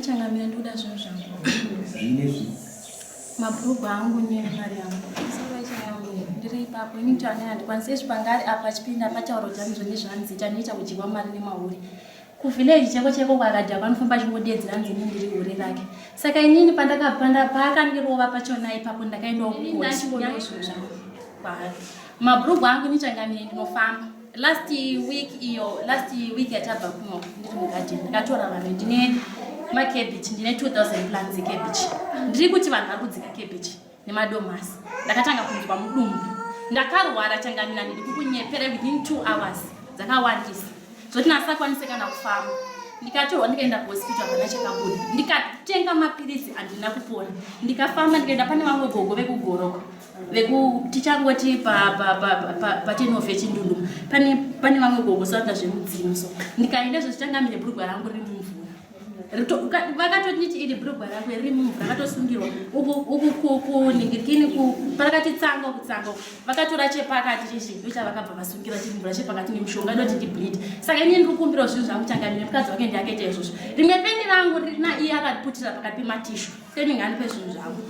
Changamira ndikuda zvinhu zvangu. Zvinezvi. Mabhurugwa angu nemari yangu. Ndiri ipapo ini kuti anena ndikwanise zvipangari apa chipinda patauro dzangu zvine zvanzi chanoita kudyiwa mari nemahuri. Kuvillage cheko cheko kwakadya kwanofamba chingodedzera nzi ini ndiri hure rake. Saka inini pandakapanda paakandirova pachona ipapo ndakaendawo kukosi. Mabhurugwa angu ini changamira ndinofamba. last week iyo last week yatabva kuno ndiri mugadeni ndakatora vanhu ndine makebichi ndine 2000 plans ekebichi ndiri kuti vanhu vari kudzika kebichi nemadomasi ndakatanga kunzwa mudumbu ndakarwara changamina ndiri kukunyepera within two hours dzakawandisa zvoti nasakwanise kana kufamba ndikatorwa ndikaenda kuhospital vana chakabuda ndikatenga mapiritsi andina kupona ndikafamba ndikaenda pane vamwe gogo vekugoroko veku tichangoti patenhof yechindundu pane vamwe gogosanda zvemudzimu so ndikaenda zvo tichanga mine brugwa rangu riri mumvura vakatonditi iri brugwa rangu riri mumvura vakatosungirwa ukuningirikini parakati tsanga kutsanga vakatora chepakati chechidyo chavakabva vasungira chiri mvura chepakati nemushonga idoti ndibleed saka ini ndiri kumbirawo zvinhu zvangu changa mine mukadzi wake ndiakaita izvozvo rimwe peni rangu rina iye akaputira pakati pematishu Fleming anipe zvinhu zvangu.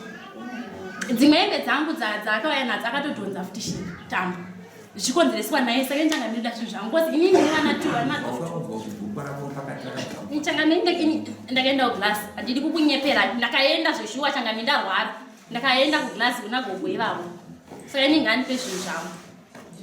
Dzimwe hembe dzangu dzaakauya nadzo akatodhonza futi shi tambo. Zvichikonzereswa naye saka ndichanga ndinoda zvinhu zvangu kozi ini ndine vana two vari madoto. Ndichanga ndakaenda kuglass handidi kukunyepera ndakaenda zveshuwa changa ndarwara ndakaenda kuglass kuna gogo ivavo saka inenge anipe zvinhu zvangu.